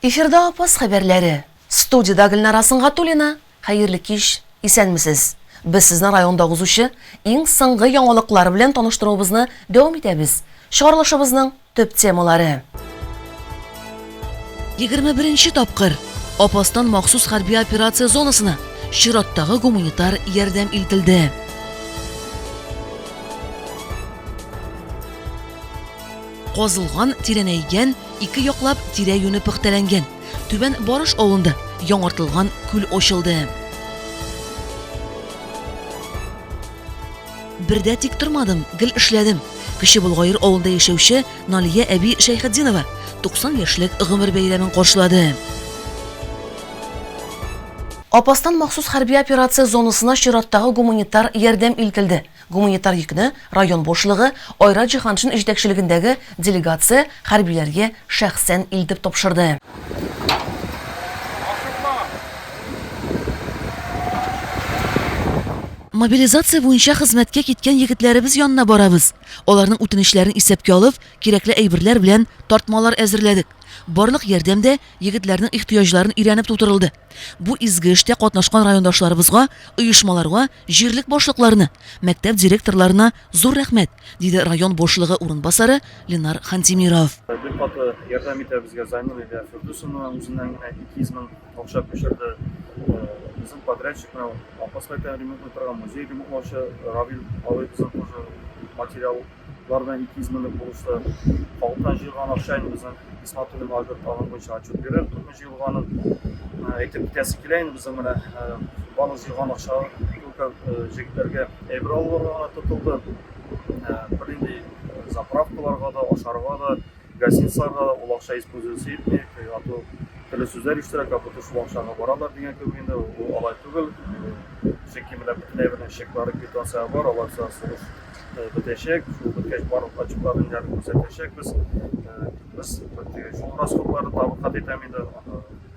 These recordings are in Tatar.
Эфирда Апас хәбәрләре. Студиядә Гөлнара Сынгатуллина. Хәерле кич. Исәнмесез. Без сезне районда узучы иң соңгы яңалыклар белән таныштыруыбызны дәвам итәбез. Чыгарылышыбызның Төп темалары. Егерме беренче тапкыр Апастан махсус хәрби операция зонасына чираттагы гуманитар ярдәм илтелде. Казылган, тирәнәйгән, ике яклап тирә юне пөхтәләнгән. Түбән Барыш авылында яңартылган күл ачылды. Бер дә тик тормадым, гел эшләдем. Кече Болгаер авылында яшәүче Налия әби Шәйхетдинова 90 яшьлек гомер бәйрәмен каршылады. Апастан махсус хәрби операция зонасына чираттагы гуманитар ярдәм илтелде. Гуманитар йөкне район башлыгы Айрат Җиһаншин җитәкчелегендәге делегация хәрбиләргә шәхсән илтеп тапшырды. Мобилизация буенча хезмәткә киткән егетләребез янына барабыз. Аларның үтенечләрен исәпкә алып, кирәкле әйберләр белән тартмалар әзерләдек. Барлык ярдәм дә егетләрнең ихтыяҗларын өйрәнеп тутырылды. Бу изге эштә катнашкан райондашларыбызга, оешмаларга, җирлек башлыкларына, мәктәп директорларына зур рәхмәт, диде район башлыгы урынбасары Ленар Хантимиров. Бер катлы ярдәм итә безгә Зайнур илә Фирдусовна үзенең ике йөз мең Акча күчерде. Безнең подрядчик менә Апаскайтан ремонтлый торган музей ремонтлаучы Равил абый безнең тоже материаллар белән 200 меңлек булышты. Халыктан җыелган акча инде безнең Исматуллин Альберт аның буенча отчет бирер, күпме җыелганын әйтеп китәсе килә инде безнең менә барлык җыелган акча только җегетләргә әйбер алуларга гына тотылды. Бернинди заправкаларга да, ашарга да Гостиницаларда да ул акча используется итми, а то төрле сүзләр ишетәләр, как будто шул акчага баралар дигән кебек инде, ул алай түгел. Чөнки менә бөтенләй бер чеклары квитанцияләр бар, алар белән сулыш бетәчәк, шул беткәч барлык отчетларны ниләрне күрсәтәчәкбез. Без шул расходларны тагын кат итәм инде,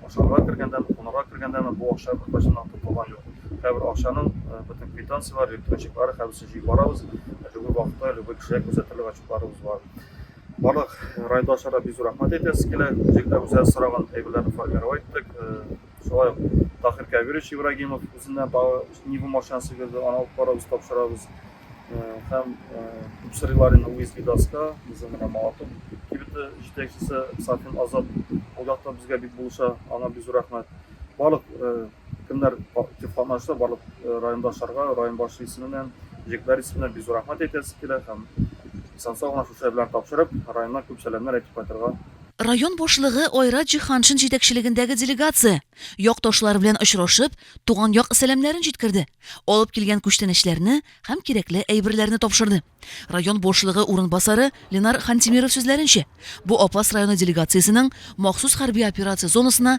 ашарга кергәндә, кунарга кергәндә бу акча беркайчан да тотылган юк. Һәрбер акчаның бөтен квитанцияләре, электрон чеклары, һәммәсен җыеп барабыз, любой вакытта любой кешегә күрсәтерлек отчетларыбыз бар. Барлык райондашларга бик зур рәхмәт әйтәсе килә. Үзлектә үзләре сораган әйберләрне формировать иттек. Шулай ук Тахир Кәбирович Ибрагимов үзеннән тагы Нива машинасы бирде, аны алып барабыз, тапшырабыз. Һәм Сырилар инде Луис Видаска, безнең менә Малатов кибете җитәкчесе Сафин Азат ул якта безгә бик булыша, аңа бик зур рәхмәт. Барлык кемнәр актив катнашты, барлык райондашларга, район башы исеменнән, җегетләр исеменнән бик зур рәхмәт әйтәсе килә һәм Исән-сау гына шушы әйберләрне тапшырып, районнан күп сәламнәр әйтеп кайтырга. Район башлыгы Айрат Җиһаншин җитәкчелегендәге делегация, якташлар белән очрашып, туган як сәламнәрен җиткерде, алып килгән күчтәнәчләрне һәм кирәкле әйберләрне тапшырды. Район башлыгы урынбасары Ленар Хантимиров сүзләренчә, бу Апас районы делегациясенең махсус хәрби операция зонасына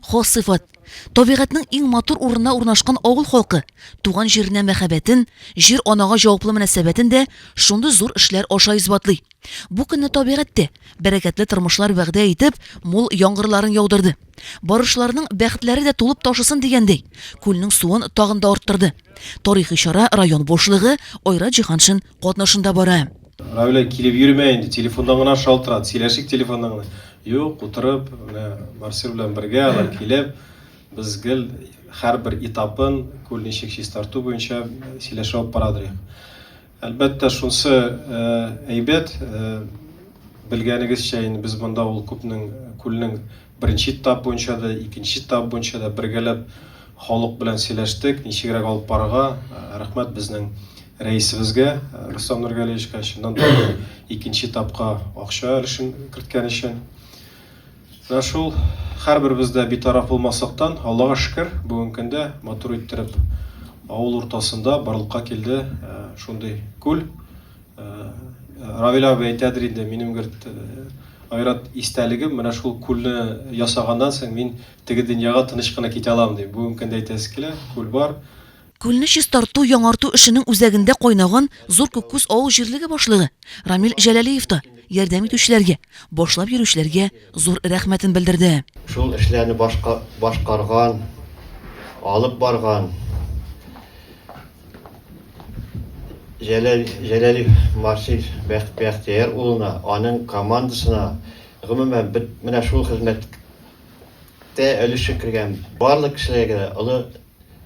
Хас сыйфат, табигатьнең иң матур урынына урнашкан авыл халкы туган җиренә мәхәббәтен, җир-анага җаваплы мөнәсәбәтен дә шундый зур эшләр аша исбатлый. Бу көнне табигатьтә бәрәкәтле тормышлар вәгъдә итеп, мул яңгырларын яудырды. Барышларның бәхетләре дә тулып ташысын дигәндәй, күлнең суын тагын да арттырды. Тарихи чара район башлыгы Айрат Җиһаншин катнашында бара. Равилә килеп йөрмә инде, телефондан гына шалтырат, сөйләшик телефондан гына. Юк, утырып, менә Марсель белән бергә алар килеп, без гел һәрбер этапын күл ничек чистарту буенча сөйләшә алып барадыр. Әлбәттә, шунсы әйбәт, белгәнегезчә, инде без монда ул күпнең күлнең Беренче этап буенча да, икенче этап буенча да бергәләп халык белән сөйләштек, ничегрәк алып барырга. Рәхмәт безнең рәисебезгә Рустам Нургалиевичка чыннан да икенче этапка акча өлешен керткән өчен. Менә шул һәрберебез дә битараф булмасактан, Аллага шөкер, бүгенге көндә матур иттереп авыл уртасында барлыкка килде шундый күл. Равил абый әйтәдер инде, минем бер айрат истәлегем, менә шул күлне ясаганнан соң мин теге дөньяга тыныч кына китә алам ди. Бүгенге көндә әйтәсе килә, күл бар. Күлне чистарту, яңарту эшенең үзәгендә кайнаган Зур Күккүз авыл җирлеге башлыгы Рамил Җәләлиев та ярдәм итүчеләргә, башлап йөрүчеләргә зур рәхмәтен белдерде. Шул эшләрне башкарган, алып барган Җәләл Җәләлев Марсис Бәхтияр улына, аның командасына, гомумән, менә шул хезмәттә өлеше кергән барлык кешеләргә олы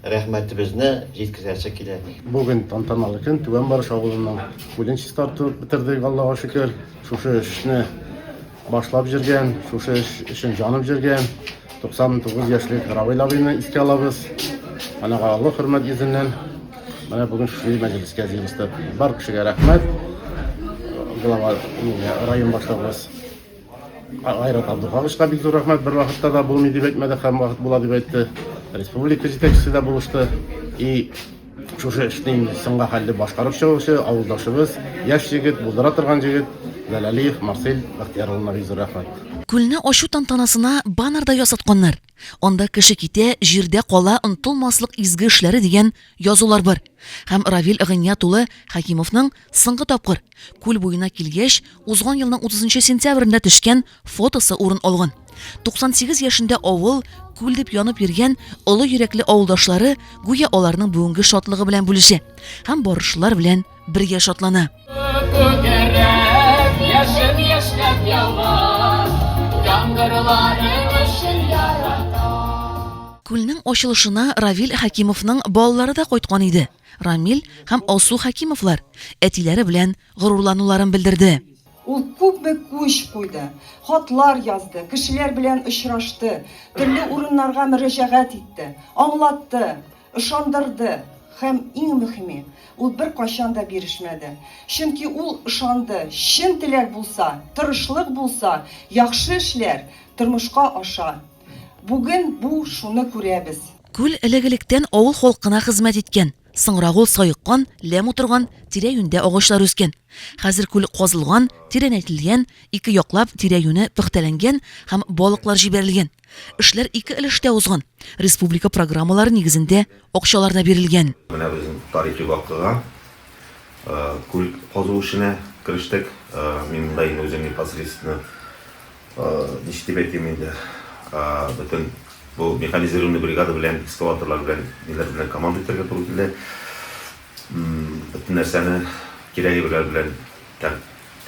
рәхмәтебезне җиткерәсе килә. Бүген тантаналы көн, Түбән Барыш авылының үлен чистартып бетердек, Аллага шөкер. Шушы эшне Башлап җөргән, шушы эш өчен җанып җөргән 99 яшьлек Равил абыйны искә алабыз. Анага олы хөрмәт йөзеннән менә бүген шушы мәҗлескә җыелыштык. Бар кешегә рәхмәт. Глава район башлыгыбыз Айрат Абдуховичка бик зур рәхмәт. Бер вакытта да булмый дип әйтмәде, һәм вакыт була дип әйтте. Республика җитәкчесе дә булышты. И Шушы эшне соңга хәлле башкарып чыгучы авылдашыбыз, яшь егет, булдыра торган җегет Галәлиев Марсель Бәхтияр улына бик зур рәхмәт. Күлне ачу тантанасына баннер да ясатканнар. Анда Кеше китә, җирдә кала, онытылмаслык изге эшләре дигән язулар бар. Һәм Равил Гыйният улы Хәкимовның соңгы тапкыр, күл буена килгәч, узган елның 30 нчы сентябрендә төшкән Фотосы урын алган. 98 яшендә авыл, күл дип янып йөргән олы йөрәкле авылдашлары гүя аларның бүгенге шатлыгы белән бүлешә һәм барышлар белән бергә шатлана. Яшен яшьнәп ява, яңгырлары Күлнең ачылышына Равил Хәкимовның балалары да кайткан иде. Рамил һәм Алсу Хәкимовлар әтиләре белән горурлануларын белдерде. Ул күпме күч куйды, хатлар язды, кешеләр белән очрашты, төрле урыннарга мөрәҗәгать итте, аңлатты, ышандырды һәм, иң мөхиме, ул беркайчан да бирешмәде. Чөнки ул ышанды, чын теләк булса, тырышлык булса, яхшы эшләр тормышка аша. Бүген бу шуны күрәбез. Күл элек-электән авыл халкына хезмәт иткән. Соңрак ул саеккан, ләм утырган, тирә-юньдә агачлар үскән. Хәзер күл казылган, тирәнәйтелгән, ике яклап тирә-юне пөхтәләнгән һәм балыклар җибәрелгән. Эшләр ике өлештә узган. Республика программалары нигезендә акчалар да бирелгән. Менә безнең тарихи вакыйга. Күл казу эшенә керештек. Мин монда инде үзем непосредственно Ничек дип әйтим инде, бөтен бу механизированный бригада белән, экскаваторлар белән, ниләр белән команда итәргә туры килде. Бөтен нәрсәне кирәгебеләр белән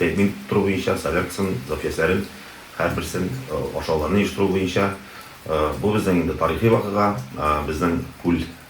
тәэмин тору буенча, соляркасын, запчастьләрен, һәрберсен ашауларны оештыру буенча. Бу безнең инде тарихи вакыйга, безнең күл.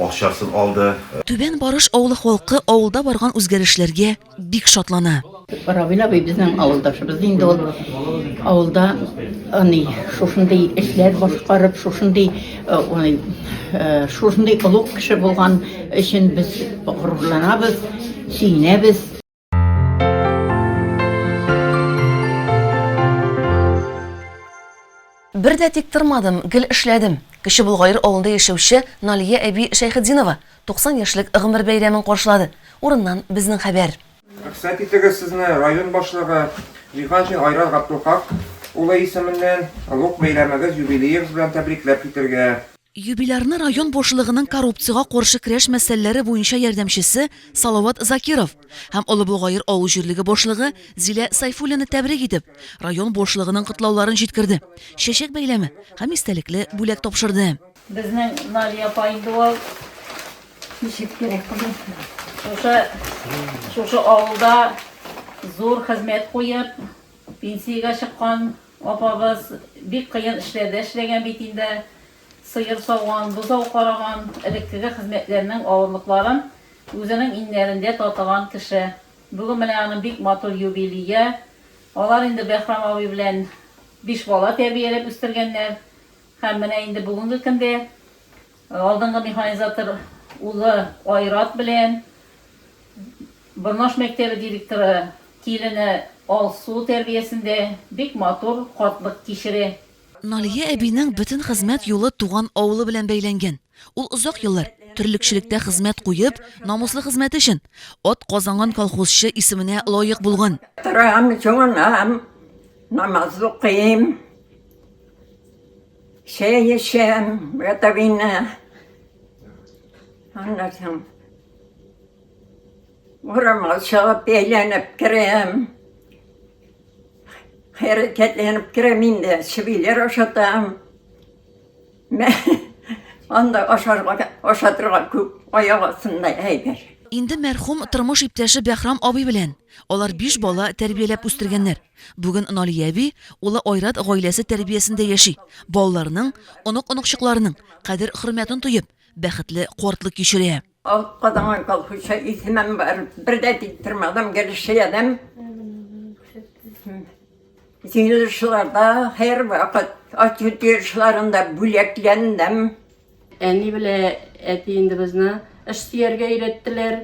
акчасын алды. Түбән Барыш авылы халкы авылда барган үзгәрешләргә бик шатлана. Равил абый безнең авылдашыбыз инде ул. Авылда аны шушындый эшләр башкарып, шушындый аны шушындый олуг кеше булган өчен без горурланабыз, сөенәбез. Бер дә тик тормадым, гел эшләдем. Кече Болгаер авылында яшәүче Налия әби Шәйхетдинова 90 яшьлек гомер бәйрәмен каршылады. Урыннан безнең хәбәр. Рөхсәт итегез сезне район башлыгы Җиһаншин Айрат Габдулхак улы исеменнән олуг бәйрәмегез, юбилеегыз белән тәбрикләп китергә. Юбилярны район башлыгының коррупциягә каршы көрәш мәсьәләләре буенча ярдәмчесе Салават Закиров һәм Олы Болгаер авыл җирлеге башлыгы Зилә Сайфуллина тәбрик итеп, район башлыгының котлауларын җиткерде, чәчәк бәйләме һәм истәлекле бүләк тапшырды. Безнең Мария апа инде ул. Ничек кирәк беләсең. Шушы, шушы авылда зур хезмәт куеп, Пенсиягә чыккан апабыз бик кыен эшләр дә эшләгән бит инде, сыер сауган, бозау караган, элеккеге хезмәтләрнең авырлыкларын үзенең иңнәрендә татыган кеше. Бүген менә аның бик матур юбилие. Алар инде Бәһрам абый белән биш бала тәрбияләп үстергәннәр. Һәм менә инде бүгенге көндә Алдынгы механизатор улы Айрат белән Борнаш мәктәбе директоры килене Алсу тәрбиясендә бик матур картлык кичерә. Налия әбинең бөтен хезмәт юлы туган авылы белән бәйләнгән. Ул озак еллар, терлекчелектә хезмәт куеп, намуслы хезмәте өчен ат казанган колхозчы исеменә лаек булган. Торам, җуынам, намаз укыйм. Чәй эчәм, братовина. Аннан соң урамга чыгып әйләнеп керәм. Хәрәкәтләнеп керәм инде, чебиләр ашатам. Мә, анда ашарга, ашатырга күп аяк астында әйбер. Инде мәрхүм тормыш иптәше Бәхрам абый белән. Алар биш бала тәрбияләп үстергәннәр. Бүген Налия әби, улы Айрат гаиләсе тәрбиясендә яши. Балаларының, онык-оныкчыкларының кадер-хөрмәтен тоеп, бәхетле картлык кичерә. Ак кадаган колхозча исемем бар. Бер дә тик тормадым, гел эшләдем. Җыелышларда һәрвакыт, ачу-тию эшләрендә бүләкләндем. Әни белән әти инде безне эш сөяргә өйрәттеләр,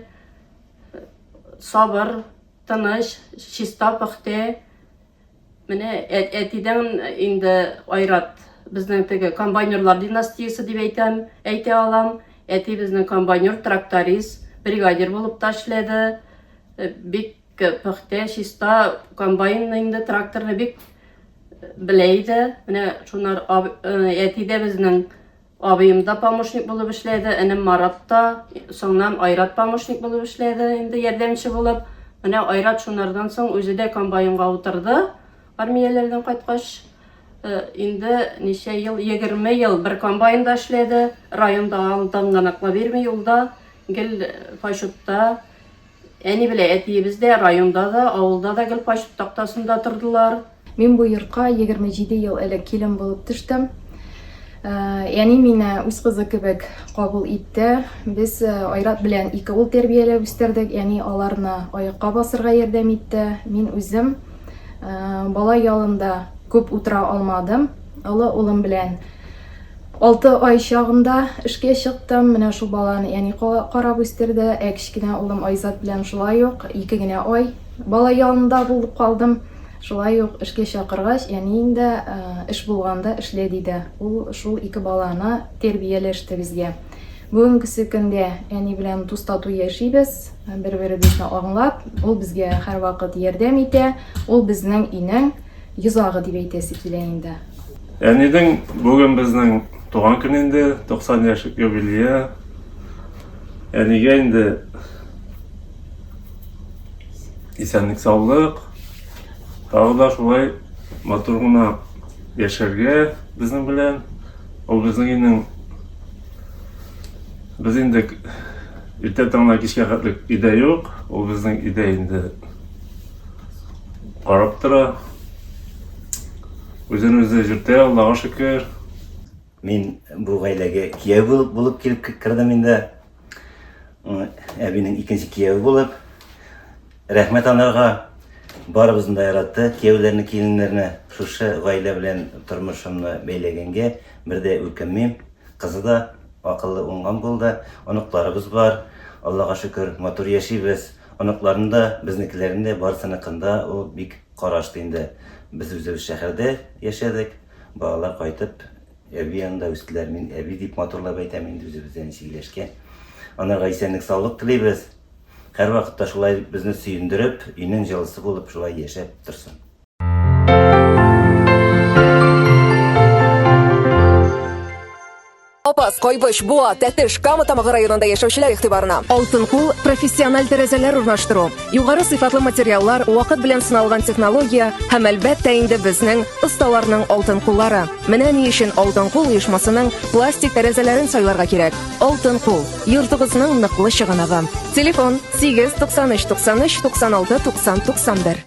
сабыр. Тыныч, чиста, пөхтә. Менә әтидән инде айрат безнең теге комбайнерлар династиясе дип әйтәм, әйтә алам. Әти безнең комбайнер, тракторист, бригадир булып та эшләде. Э, бик пөхтә, чиста комбайнны инде тракторны бик э, белә иде. Менә шунар э, әти дә безнең Абыем да помощник булып эшләде, энем Марат та, соңнан Айрат помощник булып эшләде, инде ярдәмче булып. Менә Айрат шунардан соң үзе дә комбайнга утырды, армияләрдән кайткач. Э, инде ничә ел, 20 ел бер комбайнда эшләде, районда алдыңгынаклы бирми юлда, гел файшутта Әни белән әтиебез дә районда да, авылда да гел кайчык тактасында тордылар. Мин бу йортка егерме җиде ел элек килен булып төштем. Әни мине үз кызы кебек кабул итте. Без Айрат белән ике ул тәрбияләп үстердек. Әни аларны аякка басырга ярдәм итте. Мин үзем бала ялында күп утыра алмадым. Олы улым белән Алты ай чагында эшкә чыктым. Менә шул баланы әни карап үстерде. Ә кечкенә улым Айзат белән шулай ук ике генә ай бала янында булып калдым. Шулай ук эшкә чакыргач, әнием дә эш булганда эшлә диде. Ул шул ике баланы тәрбияләште безгә. Бүгенгесе көндә әни белән дус-тату яшибез, бер-беребезне аңлап. Ул безгә һәрвакыт ярдәм итә. Ул безнең өйнең Йозагы дип әйтәсе килә инде. Әнидең бүген безнең туган көн инде, 90 яшь юбилее. Әнигә инде исәнлек саулык. Тагы да шулай матур гына яшәргә безнең белән. Ул безнең өйнең без инде иртә таңнан кичкә хәтлек өйдә юк. Ул безнең өйдә инде Карап тора. Үзен үзе җиртә, Аллага шөкер. Мин бу гаиләгә кияү булып, булып килеп кердем инде. Әбинең икенче кияүе булып. Рәхмәт анарга. Барыбызны да яратты, кияүләрне, киленнәрне. Шушы гаилә белән тормышымны бәйләгәнгә бер дә үкенмим. Кызы да акыллы, уңган булды. Оныкларыбыз бар. Аллага шөкер, матур яшибез. Оныкларын да, безнекеләрен дә барысыныкында ул бик карашты инде. Без үзебез шәһәрдә яшәдек, балалар кайтып әби янында үстеләр. Мин әби дип матурлап әйтәм инде үзебездә ничек ияләшкән. Анарга исәнлек-саулык телибез. Һәрвакытта шулай безне сөендереп, өйнең җылысы булып шулай яшәп торсын. Апас, Кайбыш, Буа, Тәтеш, Кама Тамагы районында яшәүчеләр игътибарына. Алтын кул, профессиональ тәрәзәләр урнаштыру, югары сыйфатлы материаллар, вакыт белән сыналган технология һәм әлбәттә инде безнең осталарның алтын куллары. Менә ни өчен Алтын кул оешмасының пластик тәрәзәләрен сайларга кирәк. Алтын кул, йортыгызның ныклы чыганагы. Телефон 8 93 93 96 90 91.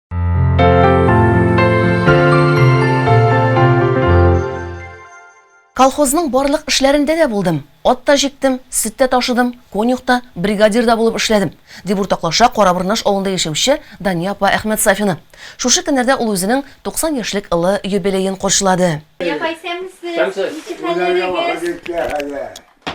Колхозның барлык эшләрендә дә булдым. Ат та җиктем, сөт тә ташыдым, конюхта, бригадир да булып эшләдем, дип уртаклаша Карабырнаш авылында яшәүче Дания апа Әхмәт Сафина. Шушы көннәрдә ул үзенең 90 яшьлек ылы юбилеен каршылады.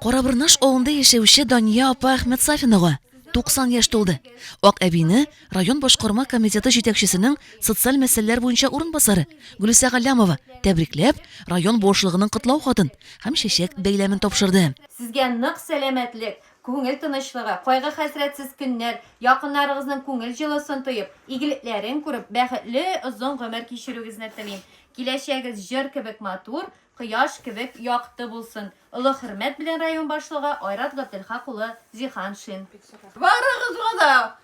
Карабырнаш авылында яшәүче Дания апа Әхмәт Сафинага 90 яшь тулды. Ак әбине Район башкарма комитеты җитәкчесенең социаль мәсьәләләр буенча урынбасары Гөлүсә Галләмова, тәбрикләп, район башлыгының котлау хатын һәм чәчәк бәйләмен тапшырды. Сезгә нык сәламәтлек, күңел тынычлыгы, кайгы-хәсрәтсез көннәр, якыннарыгызның күңел җылысын тоеп, игелекләрен күреп, бәхетле озын гомер кичерүегезне телим. Киләчәгегез җыр кебек матур, кояш кебек якты булсын! Олы хөрмәт белән район башлыгы Айрат Габделхак улы Зиһаншин. Барыгызга да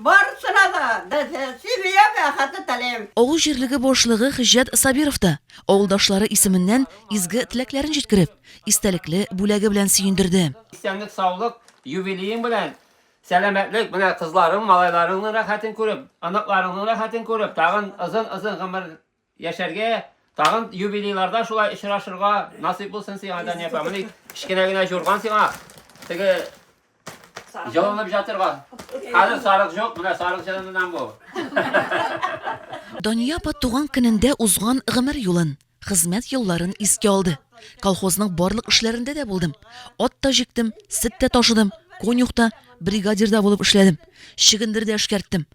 Барысына да бәхетле яшәү бәхете телим. Авыл җирлеге башлыгы Хҗҗәт Сабиров та, авылдашлары исеменнән изге теләкләрен җиткереп, истәлекле бүләге белән сөендерде. Исәнлек-саулык, юбилеең белән, сәламәтлек, менә кызларың, малайларыңның рәхәтен күреп, оныкларыңның рәхәтен күреп, тагын озын-озын гомер Яшәргә, тагын юбилейларда шулай очрашырга насыйп булсын сиңа, Дания апа. Менә кечкенә генә җурган сиңа. Теге җылынып жатырга. Хәзер сарык җук, менә сарык җылынудан бу. Дания апа туган көнендә узган гомер юлын, хезмәт елларын искә алды. Колхозның барлык эшләрендә дә булдым. Ат та җиктем, сөт тә ташыдым, конюх та, бригадир да булып эшләдем. Чөгендер дә эшкәрттем.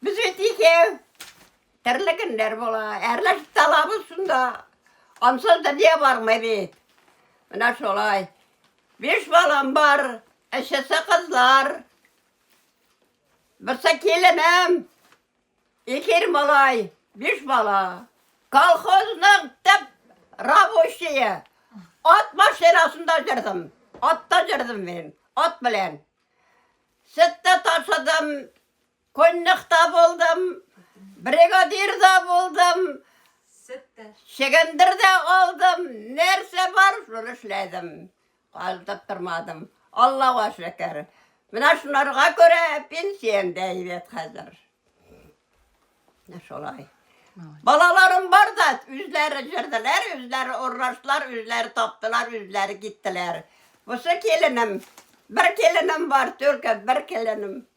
Без бит икәү. Төрле көннәр була. Әрләшеп талабыз шунда. Ансыз дөнья бармый бит. Менә шулай. Биш балам бар, өчесе кызлар. Берсе киленем, икер малай, биш бала. Колхозның төп рабочие. Ат машинасында жүрдім. Атта жүрдім мен, ат белән. Сөтті ташыдым, Коньякта булдым, бригадирда булдым, чегендер дә алдым, нәрсә бар, шуны эшләдем. Калдып тормадым. Аллага шөкер. Менә шуларга күрә пенсиям дә әйбәт хәзер. Менә шулай. Балаларым бар да, үзләре җырдылар, үзләре урнаштылар, үзләре таптылар, үзләре киттеләр. Бусы киленем, бер киленем бар, только бер киленем.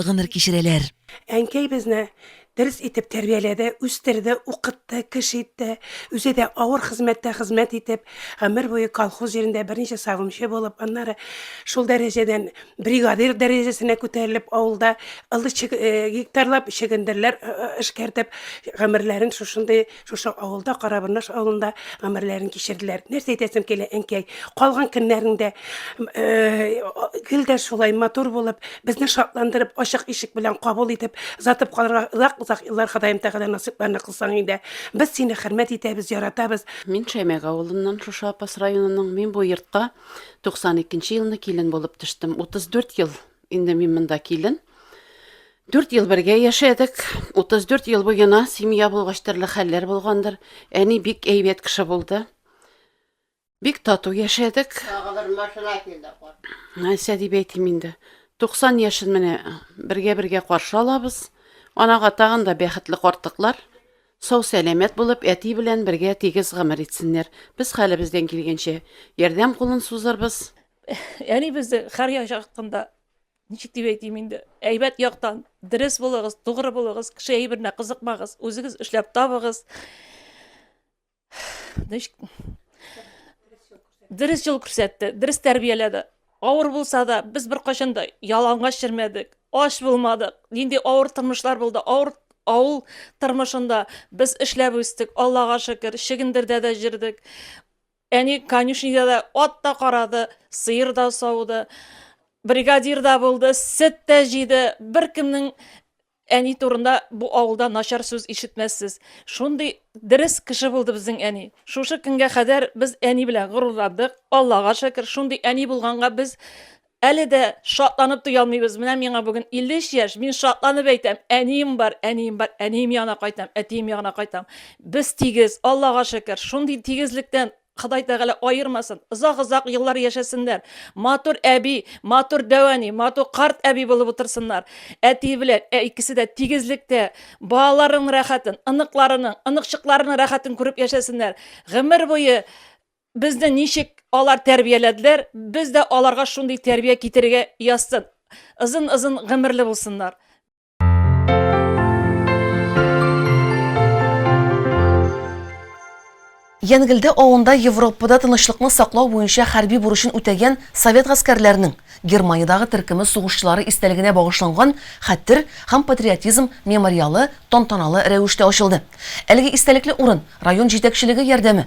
гомер кичерәләр. Әнкәй безне дөрес итеп тәрбияләде, үстерде, укытты, кеше итте. Үзе дә авыр хезмәттә хезмәт итеп, гомер буе колхоз җирендә берничә савымчы булып, аннары шул дәрәҗәдән бригадир дәрәҗәсенә күтәрелеп, авылда ылы э, гектарлап чөгендерләр э, э, эшкәртеп, гомерләрен шушындый Шушы авылда, Карабырнаш авылында гомерләрен кичерделәр. Нәрсә әйтәсем килә, әнкәй, калган көннәреңдә гел дә шулай матур булып, безне шатландырып, ачык ишек белән кабул итеп, озатып калырга озак-озак еллар Ходаем Тәгалә насыйпларны кылсаң инде. Без сине хөрмәт итәбез, яратабыз. Мин Шәймәк авылыннан, шушы Апас районының. Мин бу йортка 92 нче елны килен булып төштем. 34 ел Инде мин монда килен. Дүрт ел бергә яшәдек. 34 ел буена семья булгач төрле хәлләр булгандыр. Әни бик әйбәт кеше булды. Бик тату яшәдек. Тагыдыр машина килде. Нәрсә дип әйтим инде. 90 яшен менә бергә-бергә каршы алабыз. Анага тагын да бәхетле картыклар. Сау сәламәт булып, әти белән бергә тигез гомер итсеннәр. Без хәлебездән килгәнчә ярдәм кулын сузырбыз. Әни бездә Хәрья чакында ничек дип әйтим инде, әйбәт яктан дөрес булыгыз, тугры булыгыз, кеше әйберенә кызыкмагыз, үзегез эшләп табыгыз. Дөрес юл күрсәтте, дөрес тәрбияләде. Авыр булса да, без бер кайчан да ялангач йөрмәдек, ач булмадык. Нинди авыр тормышлар булды, авыр авыл тормышында без эшләп үстек, Аллага шөкер, чигендердә дә җөрдек. Әни конюшнида да ат та карады, сыер да сауды, бригадир да булды, сөт тә җыйды. Беркемнең әни турында бу авылда начар сүз ишетмәссез. Шундый дөрес кеше булды безнең әни. Шушы көнгә кадәр без әни белән горурландык. Аллага шөкер, шундый әни булганга без Әле дә шатланып туя алмыйбыз. Менә миңа бүген 53 яшь, мин шатланып әйтәм, әнием бар, әнием бар, әнием янына кайтам, әтием ягына кайтам. Без тигез, Аллага шөкер. Шундый тигезлектән Ходай Тәгалә аермасын, озак-озак еллар яшәсеннәр, матур әби, матур дәүәни, матур карт әби булып утырсыннар. Әти белән ә икесе дә тигезлектә, балаларының рәхәтен, оныкларының, оныкчыкларының рәхәтен күреп яшәсеннәр. Гомер буе Безне ничек алар тәрбияләделәр, без дә аларга шундый тәрбия китерергә язсын. Озын-озын гомерле булсыннар. Янгелде авылында Европада тынычлыкны саклау буенча хәрби бурычын үтәгән совет гаскәрләренең Германиядагы төркеме сугышчылары истәлегенә багышланган хәтер һәм патриотизм мемориалы тантаналы рәвештә ачылды. Әлеге истәлекле урын район җитәкчелеге ярдәме,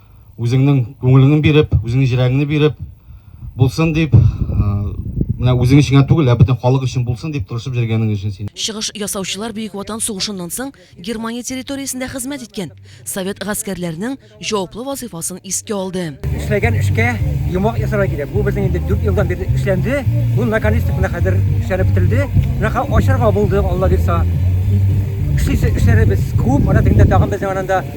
Үзеңнең күңелеңне биреп, үзеңнең җирәгеңне биреп булсын дип, менә үзең өчен түгел, ә бөтен халык өчен булсын дип тырышып җөргәнең өчен син. Чыгыш ясаучылар Бөек Ватан сугышыннан соң Германия территориясендә хезмәт иткән совет гаскәрләренең җаваплы вазыйфасын искә алды. Эшләгән эшкә йомгак ясарга кирәк. Бу безнең инде 4 елдан бирле эшләнде. Бу наконец менә хәзер эшләнеп бетерелде. Менә ачарга булды, Алла бирса. Эшләребез күп, ана тегендә тагын безнең ананда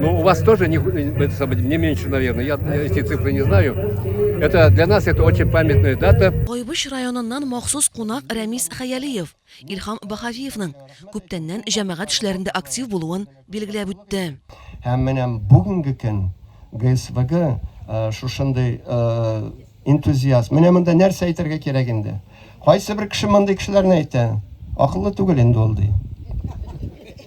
Но ну, у вас тоже не, э, не меньше, наверное, я эти цифры не знаю. Это для нас это очень памятная дата. Кайбыч районыннан махсус кунак Рәмис Хаялиев, Илхам Бахавиевның күптәннән җәмәгать эшләрендә актив булуын билгеләп үтте. Һәм менә бүгенге көн ГСВГ э, шушындый э, энтузиаст. Менә монда нәрсә әйтергә кирәк инде? Кайсы бер кеше мондый кешеләрне әйтә? Акыллы түгел инде ул ди.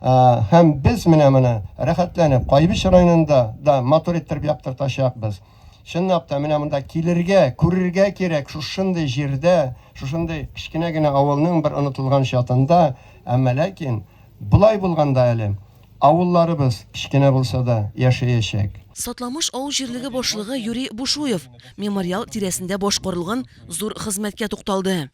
Һәм без менә моны рәхәтләнеп Кайбыч районында да матур иттереп яктыртачакбыз. Чынлап та, менә монда килергә, күрергә кирәк, шушындый җирдә, шушындый кечкенә генә авылның бер онытылган чатында, әмма ләкин болай булганда әле авылларыбыз, кечкенә булса да, яшәячәк. Сатламыш авыл җирлеге башлыгы Юрий Бушуев мемориал тирәсендә башкарылган зур хезмәткә тукталды.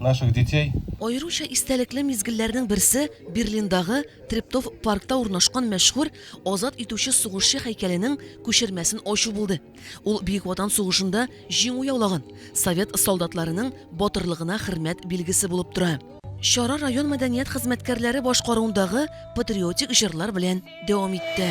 наших детей. Аеруча истәлекле мизгелләрнең берсе, Берлиндагы Трептов паркта урнашкан мәшһүр Азат итүче сугышчы һәйкәленең күчермәсен ачу булды. Ул Бөек Ватан сугышында җиңү яулаган, совет солдатларының батырлыгына хөрмәт билгесе булып тора. Чара район мәдәният хезмәткәрләре башкаруындагы патриотик җырлар белән дәвам итте.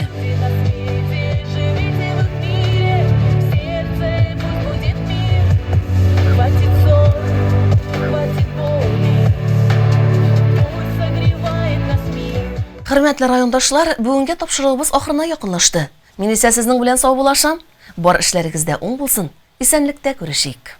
Хөрмәтле райондашлар, бүгенге тапшыруыбыз ахырына якынлашты. Мин исә сезнең белән саубуллашам. Бар эшләрегез дә уң булсын. Исәнлектә күрешик.